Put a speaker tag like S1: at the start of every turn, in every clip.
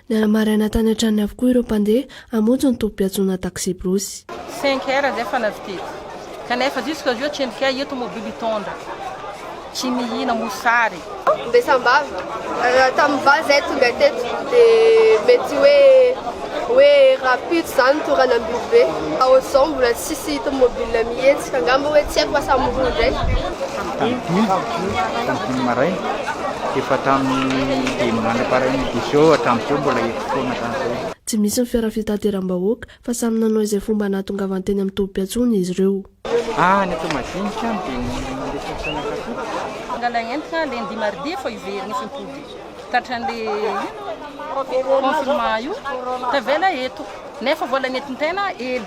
S1: Nanamaraina tany an-tranony avokoa ireo mpandeha hamonjy ny tobim-piantsoana taksibrosy. Cinq heures dia
S2: efa navidiako, kanefa jusqu'à aujourd'hui tsy hay ireto mobily hitondra, tsy mihina mosary. Dia sambava,
S3: raha tamin'ny valo izahay tonga teto dia mety hoe hoe rahampitso izany toa raha nambiby be. Fa ohatr'izao mbola tsisy tomobile mihetsika, angamba hoe tsy haiko fa samy roa indray. tamin'ny dimy, tamin'ny
S4: dimy maraina, dia efa tamin'ny dimy mandra-parian'ny dix heures hatramin'izao mbola eto foana hatramin'izao. Tsy misy ny fiara
S1: fitateram-bahoaka fa samy nanao izay fomba nahatongavan teny amin'ny tobim-piantsoana izy ireo. Any
S4: Toamadiniky any dia mandeha fiantsonan'Akoto. Mangala entona
S2: lundi mardi efa hiverina izy mipody tratran'le ino confinement io tavela eto nefa vola nentin-tena ely.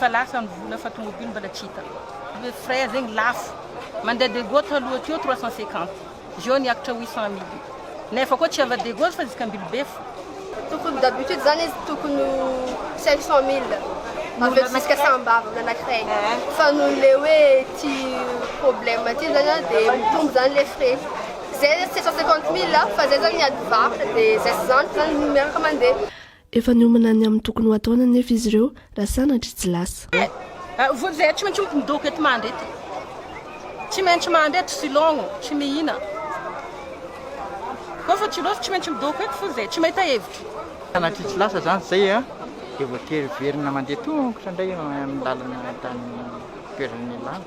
S1: Fa lasa ny vola
S2: fa tomobily mbola tsy hita. Le frais zegny lafo. Mandeha de go taloha teo trois cent cinquante. Zeo niakatra huit cent mille. Nefa koa tsy ava de go fa juska Ambilobefo. Tokony d'habitude
S3: zany izy tokony ho cinq cent mille avy eto juska Sambava olona anakiray. Fa noho le hoe ty problème ty zany an de mitombo zany le frais. Zay sept cent cinquante mille fa zay zany ny ady varotra de zay sy zany zany miaraka mandeha. Efa niomana
S1: ny amin'ny tokony ho ataony anefa izy ireo raha sanatria tsy lasa. Eh! Voly zay
S2: tsy maintsy ho mpidoko eto mandry eto. Tsy maintsy mandry eto silogno, tsy mihina. Koa fa tsy loatra tsy maintsy midoko eto voly zay tsy mahita hevitra. Sanatria tsy lasa
S4: zany zay a! Dia voatery hiverina mandeha tongotra indray eo amin'ny lalana tany toerana nialana.